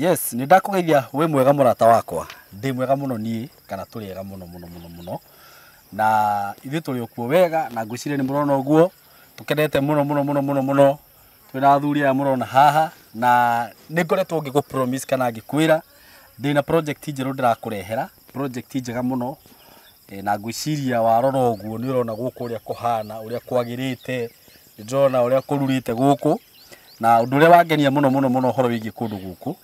Yes, nĩ ndakũgeithia wĩ mwega mũrata wakwa. Ndĩ mwega mũno niĩ kana tũrĩ ega mũno mũno mũno mũno. Na ithuĩ tũrĩ okuo wega na ngwĩciria nĩ mũrona ũguo. Tũkenete mũno mũno mũno mũno mũno twĩ na athuri aya mũrona haha na nĩ ngoretwo ngĩgũ promise kana ngĩkwĩra ndĩ na project njerũ ndĩrakũrehera, project njega mũno na ngwĩciria warora ũguo nĩ ũrona gũkũ ũrĩa kũhana, ũrĩa kwagĩrĩte. nĩ ndĩrona ũrĩa kũrurĩte gũkũ na ũndũ ũrĩa wangenia mũno mũno mũno ũhoro wĩgiĩ kũndũ gũkũ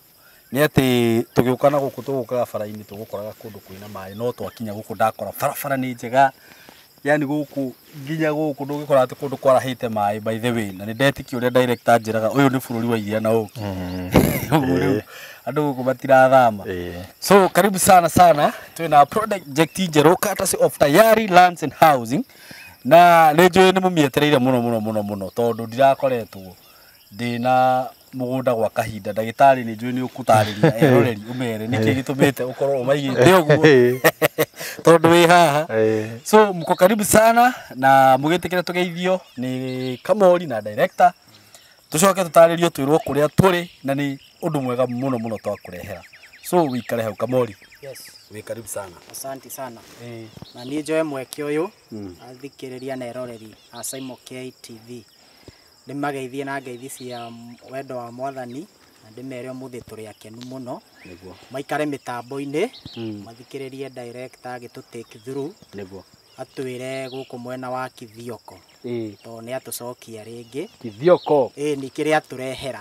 nĩ atĩ tũgĩũka na gũkũ tũgũkaga bara-inĩ tũgũkoraga kũndũ kwĩna maĩ no twakinya gũkũ ndakora barabara nĩ njega yani gũkũ nginya gũkũ ndũngĩkora atĩ kũndũ kwarahĩte maĩ by the way na nĩ ndetikia ũrĩa director anjĩraga ũyũ nĩ bũrũri wa iria na ũkĩ Ũguo rĩu, andũ gũkũ matirathama so karibu sana sana twĩ na project njerũ courtesy of tayari lands and housing Na nĩ njũĩ nĩ mũmĩetereire mũno mũno mũno mũno tondũ ndirakoretwo ndĩ na mũgũnda gwa kahinda. Ndagĩtarĩ nĩ njũĩ nĩ ũkũtarĩria eroreri ũmere nĩkĩ gĩtũmĩte ũkorwo ũmaigĩte ũguo tondũ wĩ haha. So mko karibu sana na mũgĩtĩkĩre tũgeithio nĩ Kamori na director. tucoke tutarĩrio twĩrwo kũrĩa tũrĩ na nĩ ũndũ mwega mũno mũno twakũrehera so wĩikare hau kamori Yes. wĩ karibu sana Asante sana. Eh, Na niĩ njoe mweke ũyũ Mm. athikĩrĩria na eroreri a Saimo KTV ndĩmageithie na ngeithi cia wendo wa mwathani na ndĩmere ũmũthĩ tũrĩ akenu mũno nĩguo maikare mĩtambo-inĩ Mm. mathikĩrĩrie director agĩtũ take through nĩguo atwĩre gũkũ mwena wa Kithioko ĩĩ tondũ nĩ atũcokia rĩngĩ kithioko ĩĩ nĩ kĩrĩa atũrehera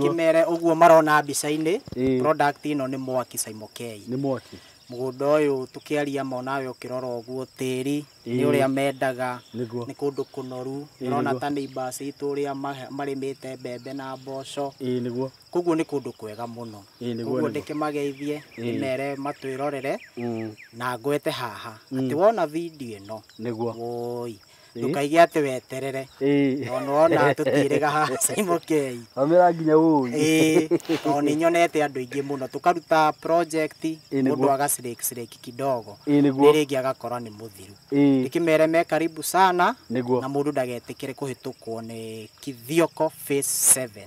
kĩmere ũguo marona mbica-inĩ Ĩĩ. product ĩno nĩ mwaki caimokei nĩ mwaki mũgũnda ũyũ tũkĩaria ma nawe ũkĩrora ũguo tĩri nĩ Ĩĩ. ũrĩa mendaga Nĩguo. nĩ kũndũ kũnoru Ĩĩ, ũrona nĩguo. ta neighbors itũ ũrĩa ma- marĩmĩte mbembe na mboco ĩĩ nĩguo Koguo nĩ kũndũ kwega mũno. Ĩĩ, nĩguo, Koguo nĩguo. ndĩkĩmageithie ndĩmere matwĩrorere Mm, na ngwete haha atĩ wona video ĩno nĩguo woi ndũkaige atĩ weterere Ĩĩ. tondũ wona tũtiĩrĩga haha Simon Kei Wamera nginya ũĩ ĩĩ tondũ nĩ nyonete andũ aingĩ mũno tũkaruta project nĩguo. mũndũ agacirĩkicirĩki kidogo Ĩĩ, nĩguo. rĩngĩ agakora nĩ mũthiru Ĩĩ, ndĩkĩmere me karibu sana nĩguo na mũndũ ndagetĩkĩre kũhĩtũkwo nĩ Kithioko Phase 7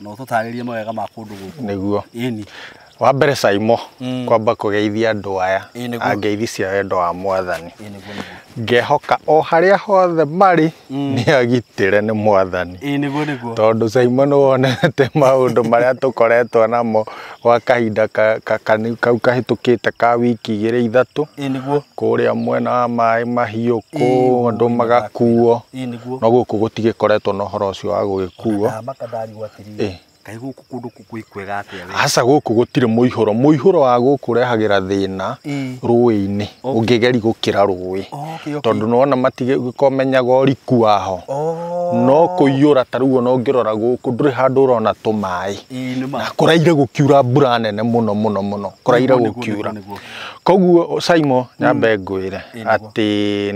na ũtũtarĩrie mawega ma kũndũ gũkũ nĩguo ĩni wa mbere caimo Mm. kwamba kũgeithia andũ aya Ĩĩ, nĩguo. a ngeithi cia wendo wa mwathani ĩni nĩguo nĩguo ngehoka o harĩa hothe marĩ Mm. nĩ agitĩre nĩ mwathani ĩni nĩguo nĩguo tondũ caimo nĩ wonete maũndũ marĩa tũkoretwo namo gwa kahinda kau kahĩtũkĩte ka wiki igĩrĩ ithatũ, kũrĩa mwena wa maĩ mahiũ kũu andũ magakuo, no gũkũ gũtigĩkoretwo na ũhoro ũcio wa gũgĩkuo. Kaĩ gũkũ kũndũ gwĩ kwega atĩa wee? Aca gũkũ gũtirĩ mũihũro, mũihũro wa gũkũ ũrehagĩra thĩna rũĩ-inĩ ũngĩgeri gũkĩra rũĩ, tondũ nĩ wona matimenyaga ũriku waho, no kũiyũra ta rĩu ona ũngĩrora gũkũ ndũrĩ handũ ũrona tũmaĩ. Ĩĩ nĩ ma. na kũraire gũkiura mbura nene mũno mũno mũno kũraire Nĩguo, nĩguo, gũkiura nĩguo, nĩguo. koguo Simon nyambe ngwĩre Ĩĩ, nĩguo. atĩ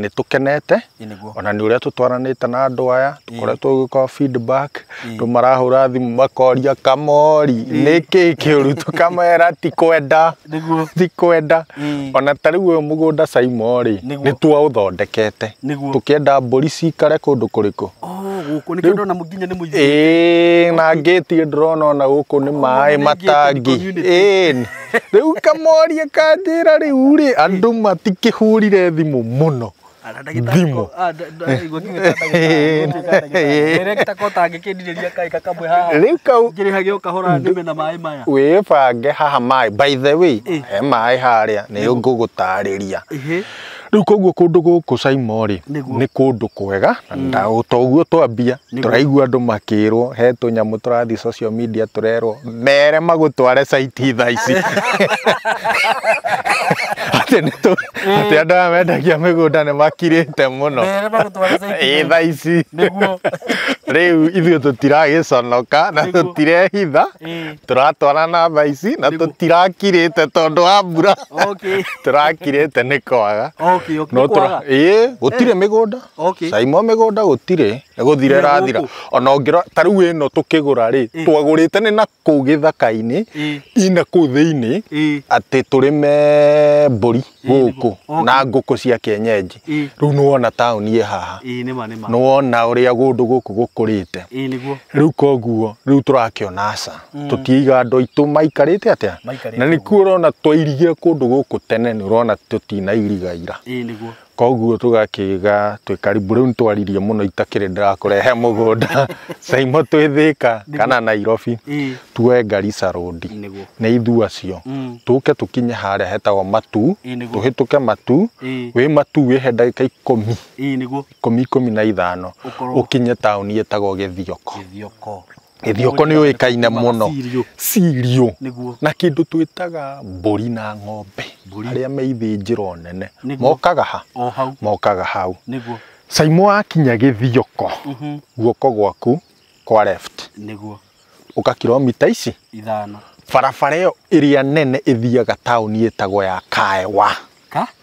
nĩ tũkenete Ĩĩ, nĩguo. ona nĩ ũrĩa tũtwaranĩte na andũ aya tũkoretwo gũkorwo feedback andũ marahũra thimũ makoria kamori nĩkĩ kĩũru tũkamera ti kwenda nĩguo ti kwenda Ĩĩ. ona ta rĩu ũyũ mũgũnda caimo rĩ Nĩguo. nĩ twaũthondekete Nĩguo. tũkĩenda mbũri cikare kũndũ kũrĩkũ oh gũkũ nĩkĩo ndona nginya nĩ mũingĩ ĩĩ na ngĩti ndĩrona ona gũkũ nĩ maĩ nĩ matangi gated community. ĩĩ rĩu kamoria kanjĩra rĩu rĩ andũ matikĩhũrire thimũ mũno Thimũ. Rĩu kau wĩbange haha maĩ by the way he maĩ harĩa nĩ ngũgũtarĩria rĩu koguo kũndũ gũkũ Saimo rĩ Nĩguo. nĩ kũndũ kwega na nda- o ta ũguo twambia Tũraigua andũ makĩrwo he tũnyamũ tũrathiĩ social media tũrerwo mere magũtware caiti thaa ici atĩ nĩ tũ atĩ andũ aya mendagia mĩgũnda nĩ makirĩte mũno Mere magũtware caiti ĩ thaa ici Nĩguo. rĩu ithuĩ tũtiragĩconoka na Nĩguo. tũtirehitha Ĩĩ. tũratwarana thaa ici na Nĩguo. tũtirakirĩte tondũ wa mbura Okay. tũrakirĩte nĩ kwaga Okay, okay. no Nĩ kwaga. tũra ĩĩ gũtirĩ mĩgũnda Okay. cai mwa mĩgũnda gũtirĩ gũthira Nĩ ĩrathira gũkũ. ona ũngĩra ta rĩu ĩno tũkĩgũra rĩ Eh. twagũrĩte nĩ na kũu gĩthaka-inĩ Eh. ina kũu thĩinĩ Eh. atĩ tũrĩme mbũri gũkũ Okay. na ngũkũ cia kĩenyenji Eh. rĩu nĩ wona taũni ĩ haha Ĩĩ nĩ ma nĩ ma. nĩ wona ũrĩa gũndũ gũkũ gũkũrĩte Ĩĩ nĩguo. rĩu koguo rĩu tũrakĩona aca tũtiiga andũ aitũ maikarĩte atĩa Maikarĩte na nĩkuo ũrona twairigia kũndũ gũkũ tene nĩ ũrona tũtinairiga ira Ĩĩ nĩguo. Koguo tũgakĩga twĩ karibu rĩu nĩtwaririe mũno itakĩrĩ ndĩrakũrehe mũgũnda Saimo twĩ Thĩka kana Nairobi Ĩĩ. tuoe Garissa Road Nĩguo. nĩ ithuĩ acio Mm. tũke tũkinye harĩa hetagwo Matu Ĩĩ, nĩguo. tũhĩtũke Matu Ĩĩ. wĩ Matu wĩhe ndagĩka ikũmi Ĩĩ nĩguo. ikũmi ikũmi na ithano Ũkorwo- ũkinye taũni ĩtagwo Gĩthioko Gĩthioko. Gĩthioko nĩ ũĩkaine mũno Sirio na kĩndũ twĩtaga mbũri na ng'ombe arĩa me ithĩnjĩro nene mokaga ha? Mokaga hau. Caimo wakinya Gĩthioko mhm. guoko gwaku kwa left ũka kiromita ici ithano barabara ĩyo ĩrĩa nene ĩthiaga taũni ĩtagwo ya Kaewa.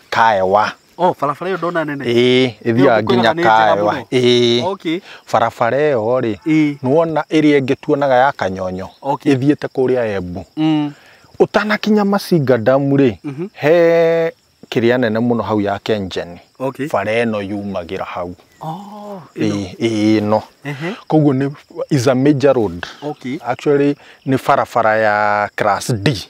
Kaewa. Oh, barabara ĩyo ndona nene. ĩĩ ĩthiaga Nĩyo nginya kwĩraga nĩ njega kaewa mũno. ĩĩ Okay. barabara ĩyo rĩ Ĩĩ. nĩwona ĩrĩa ĩngĩ tuonaga ya kanyonyo Okay. ĩthiĩte kũrĩa embu Mm. ũtanakinya macinga damu rĩ Mhm. he kĩrĩa nene mũno hau ya kenjeni Okay. bara ĩno yumagĩra hau Oh, ĩno. ĩĩ ĩĩ ĩno Ehe. koguo nĩ is a major road Okay. actually nĩ barabara ya class d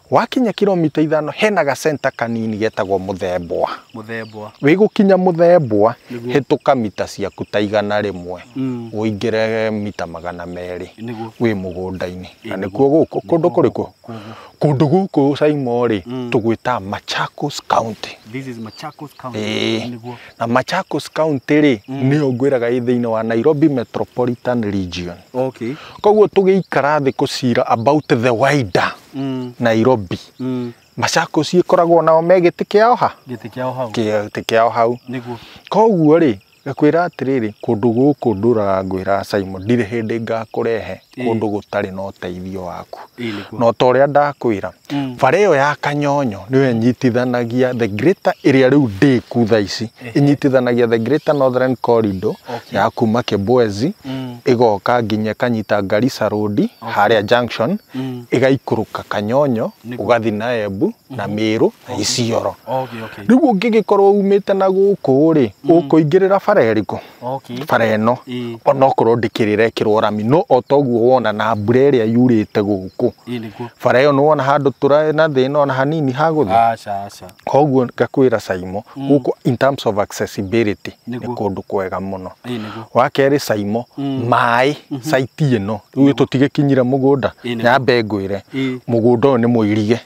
Wakinya kiromita ithano hena ga center kanini getagwo Mũthembwa. Mũthembwa. Wĩgũkinya Mũthembwa Nĩguo. hĩtũka mita ciaku ta igana rĩmwe Mm. ũingĩre mita magana merĩ Nĩguo. wĩ mũgũnda-inĩ. Na Ĩ, nĩkuo gũkũ kũndũ kũrĩkũ? Kũguo. Kũndũ gũkũ Saimo rĩ Mm. tũgwĩta Machakos County. This is Machakos County. Ĩĩ. Nĩguo. Na Machakos County rĩ nĩyo ngwĩraga ĩ thĩinĩ wa Nairobi Metropolitan Region. Okay. Koguo tũgĩikara thĩ kũcira about the wider Mm. nairobi Mm. machakos ĩkoragwo nao me gĩtĩ kĩao ha Gĩtĩ kĩao hau. Kĩa- gĩtĩ kĩao hau Nĩguo. koguo rĩ ngakwĩra atĩrĩrĩ kũndũ gũkũ ndũraga ngwĩra simon ndirĩ hĩndĩ ngakũrehe Ĩĩ. kũndũ gũtarĩ na ũteithio waku Ĩĩ nĩguo. no ta ũrĩa ndakwĩra Mm. bara ĩyo ya kanyonyo nĩyo ĩnyitithanagia the greater ĩrĩa rĩu ndĩku tha ici inyitithanagia the greater northern corridor Okay. ya kuma kibwezi Mm. igoka nginya kanyita garissa road haria junction Mm. igaikũrũka kanyonyo Nĩguo. ũgathi na embu na mĩrũ na isioro Okay, okay. rĩu ũngĩgĩkorwo umĩte na gũkũ rĩ ũkũingĩrĩra bara ĩrĩkũ okay. bara ĩno Ĩĩ. onokorwo ndĩkĩrĩrekĩrwo rami no o toguo wona na mbura ĩrĩa yurĩte gũkũ Ĩĩ nĩguo. bara ĩyo nĩwona handũ tũrarĩ na thĩna ona hanini hagũthiĩ Aca aca. koguo ngakwĩra Saimo gũkũ in terms of accessibility nĩ Nĩguo. kũndũ kwega mũno Ĩĩ nĩguo. wa kerĩ Saimo maĩ saiti ĩno rĩu tũtigĩkinyire mũgũnda Ĩĩ nĩguo. nyambe ngwĩre Ĩĩ. mũgũnda ũyũ nĩ mũirige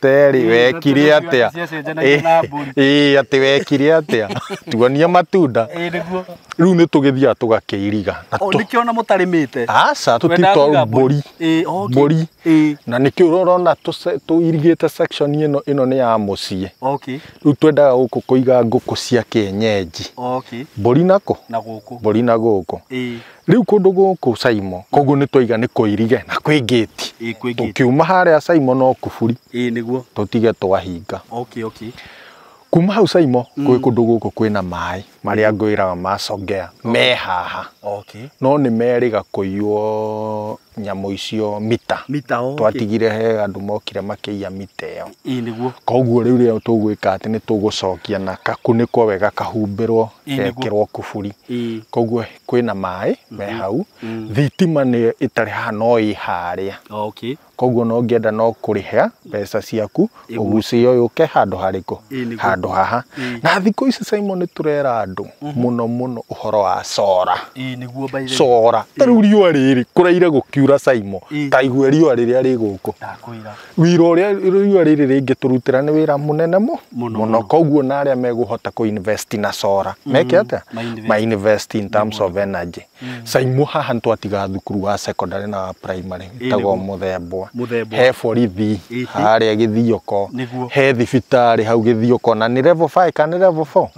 Terry wekire atia? Ciacenjanagia na mbũri. Ĩĩ atĩ wekire atia? Tuonie matunda. Ĩĩ nĩguo. Rĩu nĩ tũgĩthiaga tũgakĩiriga. Na O tũ- nĩkĩo ona mũtarĩmĩte. Aca Mwendaga kũiga tũtitwa mbũri. Ĩĩ, okay. Mbũri. Ĩĩ, Na nĩkĩo ũrona tũce- tũirigĩte section ĩno ĩno nĩ ya mũciĩ. okay. Rĩu twendaga gũkũ kũiga ngũkũ cia kĩenyenji. Okay. Mbũri nakũ? Na gũkũ. Mbũri na gũkũ. Ĩĩ. Rĩu kũndũ gũkũ Saimo, koguo nĩ twaiga nĩ kũirige na kwĩ ngĩti. Ĩĩ, kwĩ ngĩti. Tũkiuma harĩa Saimo no kuburi, Ĩĩ nĩguo. tũtige twahinga. Okay, okay. Kuma hau Saimo, gwĩ kũndũ gũkũ kwĩna maĩ marĩa ngwĩraga ma Songea, me haha. Okay. No nĩ merĩga kũiywo nyamũ icio mita Mita, okay. twatigire he andũ mokire makĩiya mita ĩyo Ĩĩ nĩguo. koguo rĩu rĩo tũgwĩka atĩ nĩ tũgũcokia na kakunĩkwo wega kahumbĩrwo Ĩĩ, nĩguo. gekĩrwo kuburi Ĩĩ. koguo kwĩna maĩ me hau thitima nĩ ĩtarĩ haha no ĩ harĩa Okay. koguo no ngĩenda no kũrĩha mbeca ciaku ũgucĩo yũke handũ harĩkũ Ĩĩ, nĩguo. handũ haha Ĩĩ. na thikũ ici Simon nĩ tũrera andũ mũno mũno ũhoro wa cora ĩĩ nĩguo by the way cora ta rĩu riũa rĩrĩ kũraire gũkiura Simon Ĩĩ. ta igue riũa rĩrĩa rĩ gũkũ ndakwĩra wira ũrĩa riũa rĩrĩ rĩngĩtũrutĩra nĩ wĩra mũnene mu- Mũno, mũno mũno. koguo na arĩa megũhota kũinvest na cora meke atĩa ma invest. mainvest in terms of energy mm. Saimo haha twatiga thukuru wa secondary na wa primary tagwo muthembwa he borithi harĩa gĩthioko he thibitarĩ hau gĩthioko na nĩ level 5 kana level 4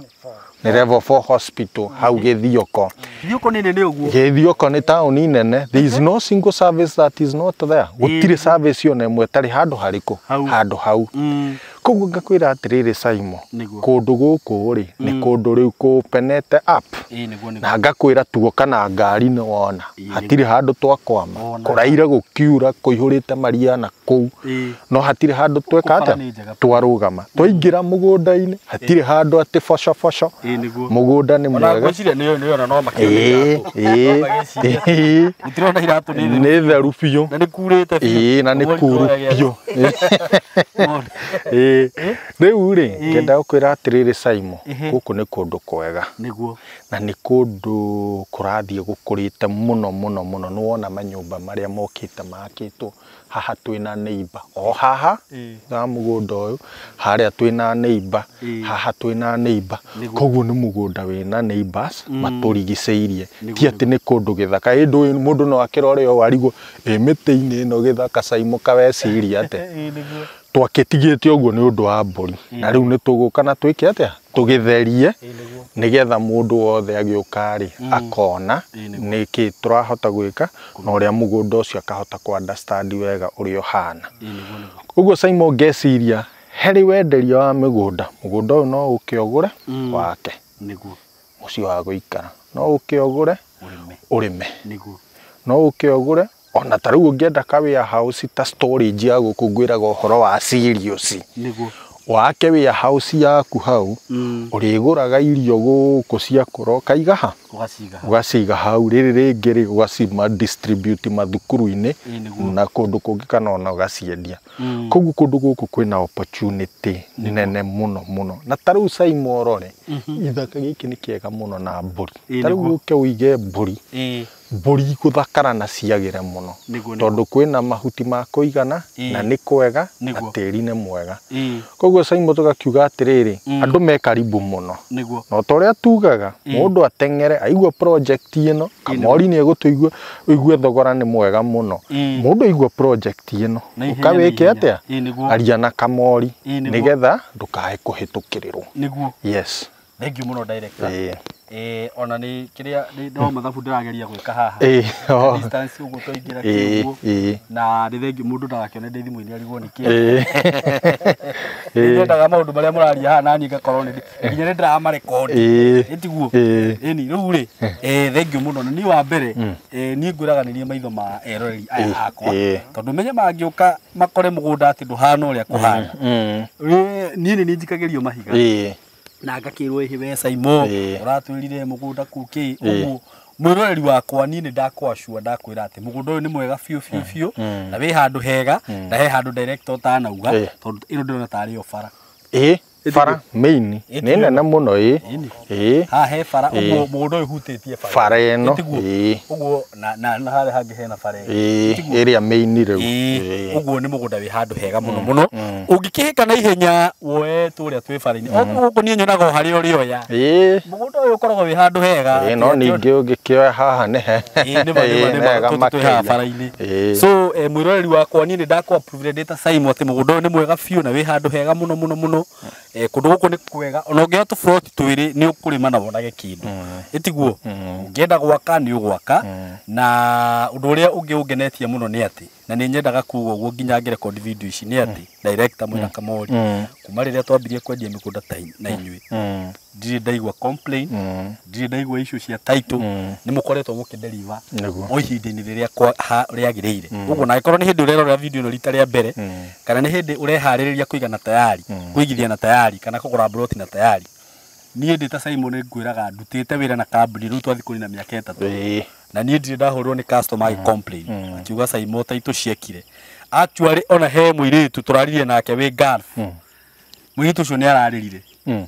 nä level 4 hospital hau githioko githioko nä nene uguo githioko nä tauni nene there is no single service that is not there gutire service yo na imwe tari handu hariku handu hau mm. Koguo ngakwĩra atĩrĩrĩ Saimo, Nĩguo. kũndũ gũkũ-rĩ, nĩ kũndũ rĩu kũpenete up. Ĩĩ nĩguo nĩguo. Na ngakwĩra tuoka na ngari nĩ wona, Ĩĩ, hatirĩ handũ twakwama. Ona. Kũraire gũkiura, kũihũrĩte maria na kũu. Ĩĩ. No hatirĩ handũ tweka Bara atĩa? nĩ njega biũ. Twarũgama. Twaingĩra mũgũnda-inĩ, hatirĩ handũ atĩ bocoboco. Ĩĩ nĩguo. Mũgũnda nĩ Ona mwega. ngwĩciria nĩ nĩ ona no makĩũrĩte Ĩĩ, andũ. ĩĩ, No magĩcirie. ĩĩ. itirona iratũ nĩ theru nĩ theru biũ na nĩ kurĩte ĩĩ na nĩ Ũguo kuru iroya gĩaku. biũ Mona. ĩĩ rĩu rĩ Ĩĩ. ngenda gũkwĩra atĩrĩrĩ Saimo Ehe. gũkũ nĩ kũndũ kwega nĩguo na nĩ kũndũ kũrathiĩ gũkũrĩte mũno mũno mũno nĩwona manyũmba marĩa mokĩte makĩtwo haha twĩna neighbor o haha Ĩĩ. na mũgũnda ũyũ harĩa twĩna neighbor Ĩĩ. haha twĩna neighbor Nĩ gũ- koguo nĩ mũgũnda wĩna neighbors matũrigicĩirie Nĩ ti atĩ nĩ kũndũ gĩthaka ĩndũ ũyũ mũndũ no akĩrore o arigwo ĩ mĩtĩ-inĩ ĩno gĩthaka caimũka weciria atĩ Ĩĩ, nĩguo. twakĩtigĩte ũguo nĩ ũndũ wa mbũri na rĩu nĩ tũgũka na twĩke atĩa tũgĩtherie nĩgetha mũndũ wothe agĩũka-rĩ akona nĩkĩ tũrahota gwĩka na ũrĩa mũgũnda ũcio akahota kũ understand wega ũrĩa ũhana ũguo Simon ngeciria harĩ wenderia wa mĩgũnda mũgũnda ũyũ no ũke ũgũre wake mũciĩ wa gũikara no ũke ũgũre ũrĩme no ũke ũgũre Ona ta rĩu ũngĩenda ka warehouse ta storage ya gũkũ ngwĩraga ũhoro wa cereals. Nĩguo. Wake warehouse yaku hau, mm. ũrĩgũraga irio gũkũ ciakũra ũkaiga ha? Ũgaciga hau. Rĩrĩ rĩngĩ rĩ ũgacima distribute mathukuru-inĩ na kũndũ kũngĩ kana ona ũgaciendia. Mm. Koguo kũndũ gũkũ kwĩna opportunity nene mũno mũno. Na ta rĩu Saimoro rĩ, mm-hmm. gĩthaka gĩkĩ nĩ kĩega mũno na mbũri. Ta rĩu ũke ũige mbũri. Eh. Mbũri gũthakara na ciagĩre mũno tondũ kwĩna mahuti ma kũigana na nĩ kwega na tĩri nĩ mwega. Koguo Simon tũgakiuga atĩrĩrĩ, andũ me karibu mũno. Na o ta ũrĩa tugaga, mũndũ ateng'ere aigua project ĩno, Kamori nĩ egũtũigua, ũigue thogora nĩ mwega mũno. Mũndũ aigua project ĩno, ũka wĩke atĩa? Aria na Kamori nĩgetha ndũkae kũhĩtũkĩrĩrwo. Yes. Thank you mũno director. Ĩĩ. Eh, ona nĩ kĩrĩa nĩ no mathabu ndĩrageria gwĩka haha. Ĩĩ, oo. Distance ũguo twaingĩra Ĩĩ, kĩguo. ĩĩ. Na nĩ thengi mũndũ ndagakĩone ndĩ thimũ-inĩ arigwo nĩ kĩ. Ĩĩ. Nĩ Ĩĩ. nyendaga maũndũ marĩa mũraria haha naniĩ ngakorwo nĩ nginya nĩ ndĩramarekondi. Ĩĩ. Ĩtiguo. Ĩĩ. Ĩni rĩu rĩ, eh, thengi mũno na niĩ wa mbere eh, niĩ ngwĩraganĩria maitho ma eroreri Ĩĩ, aya akwa. ĩĩ. Tondũ menye mangĩũka makore mũgũnda atĩ ndũhana ũrĩa kũhana. Mm. Wĩ- Niĩ nĩ niĩ njikagĩrio mahiga. Ĩĩ. na ngakĩrwo ĩhĩ we Saimo Ĩĩ. ũratwĩrire mũgũnda kuu kĩ Ĩĩ. ũguo mwĩroreri wakwa niĩ nĩ ndakwacua ndakwĩra atĩ mũgũnda ũyũ nĩ mwega biũ biũ biũ Mm. na wĩ handũ hega Mm. na he handũ director ũtanauga Ĩĩ. tondũ ĩno ndĩrona tarĩ o bara ĩ bara main nĩ Ĩtiguo. nene mũno ĩ Ĩni. ĩ haha he bara Ĩĩ. ũguo mũgũnda ũyũ hutĩtie bara ĩno Ĩtiguo. Ĩĩ. ũguo na na na harĩa hangĩ hena bara ĩngĩ. Ĩĩ, Tiguo? ĩrĩa main rĩu Ĩĩ, Ĩĩ. ũguo nĩ mũgũnda wĩ handũ hega mũno mũno mm. ũngĩkĩhĩka na ihenya woe tũrĩa twĩ bara-inĩ oguo gũkũ niĩ nyonaga o harĩa ũrĩoya Ĩĩ. mũgũnda ũyũ ũkoragwo wĩ handũ hega Ĩĩ, no Kĩrĩa ningĩ ũngĩkĩoya haha nĩ he Ĩĩ, nĩ ma, nĩ ma, Ĩĩ, nĩ ma, nega tũtũ twĩ haha makĩria. bara-inĩ. Ĩĩ. so eh, mwĩroreri wakwa niĩ nĩ ndakũ approve ndĩ ta Saimo atĩ mũgũnda ũyũ nĩ mwega biũ na wĩ handũ hega mũno mũno mũno Eh, kundu guku ni kwega ona ungiya tu plot twiri ni ukurima na wonage kindu itiguo ungienda gwaka ni ugwaka na undu uria ungi ungenetie muno ni ati na ni nyendaga kuga uguo nginya ngi record video ici ni ati director mwina kamori kuma riria twambirie kwendia migunda ta in- na inyui ndiri ndaigua complain ndiri ndaigua issue cia title ni mukoretwo mukinderiva Nĩguo. o ihinda-inĩ rĩrĩa kwa- ha- rĩagĩrĩire ũguo na angĩkorwo nĩ hĩndĩ ũrerorera video ĩno rita rĩa mbere kana nĩ hĩndĩ ũreharĩrĩria kũiga na tayari kũigithia na tayari kana kũgũra mburoti na tayari niĩ ndĩ ta Simon ngwĩraga ndutĩte wĩra na kambuni rĩu twathiĩ kũnina mĩaka ĩtatũ Ĩĩ. na niĩ ndirĩ ndahũrĩrwo nĩ customer agĩ complain akiuga Simon ta itũciekire actually ona he mũirĩtu tũraririe nake wĩ Gulf mũirĩtu ũcio nĩ ararĩrire Mm.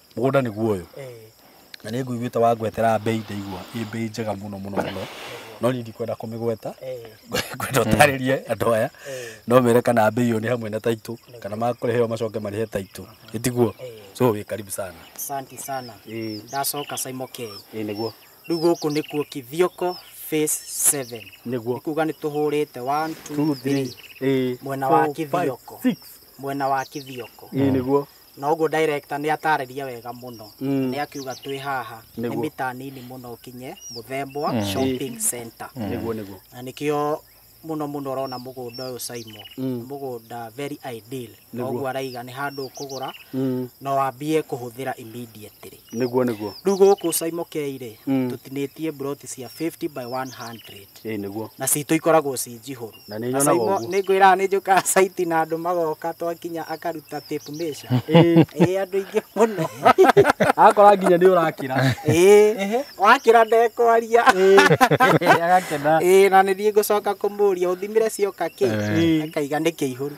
mũgũnda nĩguo ũyũ na nĩ ngũiguĩte wa ngwetera mbei ndaigua ĩ mbei njega mũno mũno mũno no niĩ ndikwenda kũmĩgweta ngwenda ũtarĩrie andũ aya no mere kana mbei ĩyo nĩ hamwe na taitũ kana makũrehe ĩyo macoke marĩhe taitũ ĩtiguo so wĩ karibu sana Asante sana. ĩ Ndacoka Saimo K. ĩ nĩguo Rĩu gũkũ nĩkuo Kithioko phase 7. nĩguo Kuga nĩ tũhũrĩte 1 2 3 ĩ mwena wa four, five, Kithioko. six. Mwena wa Kithioko. ĩ nĩguo na ũguo director nĩ atarĩria wega mũno Mm. nĩ akiuga twĩ haha nĩ Nĩguo. mita nini mũno ũkinye mũthembwa Mm. shopping center nĩguo nĩguo na nĩkĩo mũno mũno ũrona mũgũnda ũyũ Saimo Mm. mũgũnda very ideal na Nĩguo. ũguo araiga nĩ handũ ũkũgũra Mm. na wambie kũhũthĩra immediately nĩguo nĩguo rĩu gũkũ Saimo Kei-rĩ Mm. tũtinĩtie mburoti cia 50 by 100 Ĩĩ nĩguo. Na citũ ikoragwo ci njihũru. Na nĩ nyonaga ũguo. Nĩ ngwĩraga nĩ njũkaga site na andũ magoka twakinya akaruta tape measure. Ĩĩ andũ aingĩ mũno. Agakora nginya nĩ ũrakĩra. Ĩĩ. Wakĩra ndekwaria. Ĩĩ agakena. Ĩĩ na nĩ thiĩ ngũcoka kũmũria ũthimire cioka kĩ? Akaiga nĩ kĩihũru.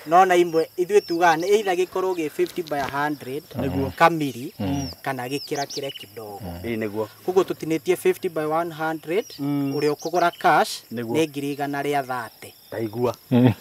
No na imwe ithuĩ tugaga nĩ either gĩkorwo gĩ 50 by 100 kamiri kana gĩkĩra kĩre kidogo. Ĩĩ nĩguo. koguo tũtinĩtie 50 by 100 Mm. ũrĩa ũkũgũra cash Nĩguo. nĩ ngiri igana rĩa thate ndaigua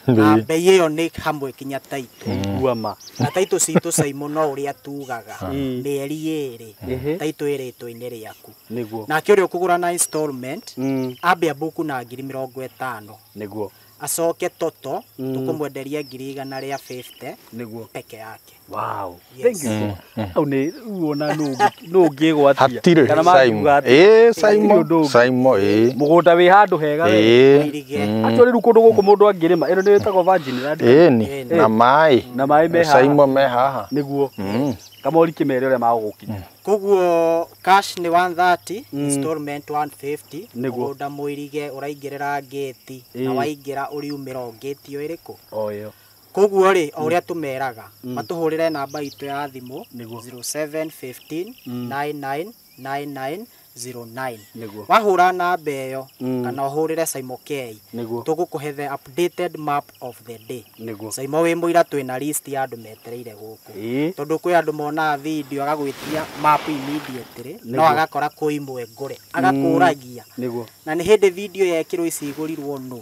na mbei ĩyo nĩ hamwe kinya taitũ ndaigua ma na taitũ citũ caimũ no ũrĩa tugaga Mm. mĩeri ĩrĩ Ehe. taitũ ĩrĩtũ-inĩ rĩaku nĩguo nake ũrĩa ũkũgũra na installment Mm. ambia mbuku na ngiri mĩrongo ĩtano nĩguo Acoke Toto tũkũmwenderia ngiri igana rĩa 50 nĩguo peke yake. Wow. Yes. Thank you so much. Au nĩ rĩu ona nũ ũngĩ- nũ ũngĩgwatia. hatirĩ Kana saimo makiuga atĩ, ĩĩ "Nĩ saimo ũndũ ũngĩ." saimo ĩĩ Mũgũnda wĩ handũ hega we. ĩĩ Irige. mm, Actually rĩu kũndũ gũkũ mũndũ angĩrĩma ĩno nĩ ĩtagwo virgin land. ĩĩ ni Ĩĩ. na maĩ Na maĩ me haha. saimo me haha Nĩguo. Mm. Kamori kĩmere ũrĩa magũgũkinya. koguo cash nĩ 130 Mm. installment 150 Nĩguo. mũgũnda mũirige ũraingĩrĩra ngĩti Ĩĩ. na waingĩra ũriumĩra o ngĩti ĩyo ĩrĩkũ oyo koguo rĩ o ũrĩa tũmeraga Mm. matũhũrĩre namba itũ ya thimũ Nĩguo. 0715 Mm. 9999 09 Nĩguo. wahũra namba ĩyo Mm. kana ũhũrĩre Saimo K Nĩguo. tũgũkũhe the updated map of the day Nĩguo. Saimo wĩ mũira twĩna list ya andũ metereire gũkũ Ĩĩ. tondũ kwĩ andũ monaga video agagwĩtia map immediately no Nĩguo. agakora kwĩ imwe ngũre agakũragia Nĩguo. na nĩ hĩndĩ video yekĩrwo ici igũrirwo nũ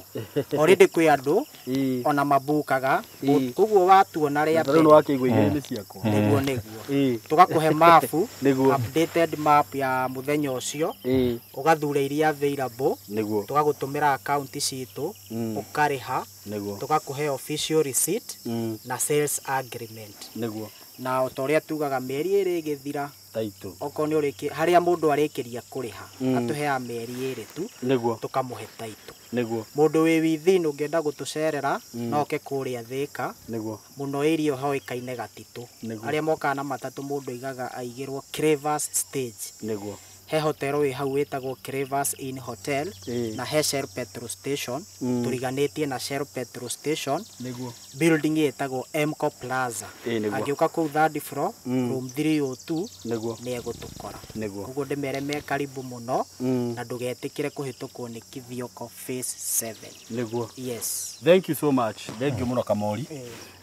already kwĩ andũ Ĩĩ. ona mabũkaga Ĩĩ. koguo watuona rĩa Rĩu nĩ mbere wakĩigua igĩrĩ-inĩ ciakwa. nĩguo nĩguo Ĩĩ. tũgakũhe mapu Nĩguo. updated map ya mũthenya ũcio Ĩĩ. ũgathure iria available Nĩguo. tũgagũtũmĩra akaunti citũ Mm. ũkarĩha Nĩguo. tũgakũhe official receipt Mm. na sales agreement Nĩguo. na o ta ũrĩa tugaga mĩeri ĩrĩ ĩgĩthira taitũ. Okorwo nĩ ũrĩki, harĩa mũndũ arĩkĩria kũrĩha, Mm. atũheaga mĩeri ĩrĩ tu, Nĩguo, tũkamũhe taitũ. nĩguo, Mũndũ wĩ within ũngĩenda gũtũcerera, Mm. no oke kũrĩa Thĩka, nĩguo, mũno area ĩyo hoĩkaine Gatitũ. Nĩguo. Arĩa mokaga na matatũ mũndũ aigaga aigĩrwo Cravers stage. nĩguo. He hotero wĩ hau wĩtagwo Cravers Inn Hotel, Ĩĩ. na he Shell petrol station, Mm. tũriganĩtie na Shell petrol station, Nĩguo. building ĩtagwo Emco Plaza. Ĩĩ nĩguo. Angĩũka kũu third floor, Mm. room 302 Nĩguo. nĩ egũtũkora. Nĩguo. Ũguo ndĩmere me karibu mũno Mm. na ndũgetĩkĩre kũhĩtũkwo nĩ Kithioko Phase 7. Nĩguo. Yes. Thank you so much. Thank you mũno Kamori.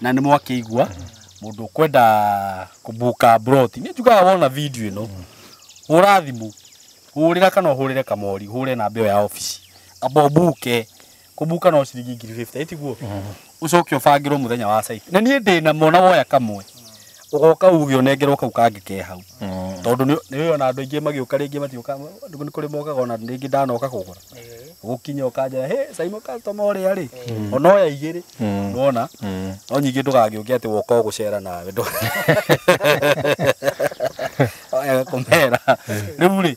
Na nĩ mwakĩigua mũndũ ũkwenda kũbuka broti. Nĩ njugaga wona video ĩno. Hũra thimũ. Hũrĩra kana ũhũrĩre Kamori, hũre namba ĩyo ya ofici. Amba ũbuke. kũbuka no ciringi ngiri 50 itiguo ucoke ubangirwo muthenya wa cycle na niĩ ndĩ namo na woya kamwe ugoka uge unengerwo kau kangĩ ke hau tondũ nĩ nĩ ona andũ aingĩ magĩũka rĩngĩ matiũka nĩ kũrĩ mokaga ona rĩngĩ ndanoka kũgũra gũkinya ũkanjĩra hĩ caimo customer ũrĩa rĩ ona oya igĩrĩ nona no nyingĩ ndũgagĩũke atĩ woka ũgũcera nawe ndũ- Oya kũmera rĩu rĩ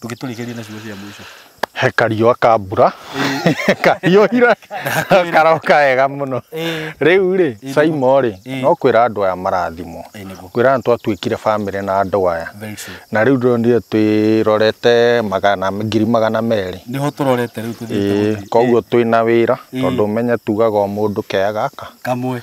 ndũgĩtũrigĩrie na ciugo cia mũico he kariũa ka mbura kahiũhire karoka wega mũno Ĩĩ. rĩu rĩ Ĩĩ. saimo rĩ Ĩĩ. no kwĩra andũ aya marathimwo Ĩĩ, nĩguo. kwĩra andũ twatuĩkire bamĩrĩ na andũ aya Very true. na rĩu ndonire twĩrorete magana ngiri magana merĩ nĩho tũrorete rĩu tũthiĩte Ĩĩ, gũthiĩ. koguo twĩ na wĩra Ĩĩ. tondũ menye tugaga o mũndũ kea gaka kamwe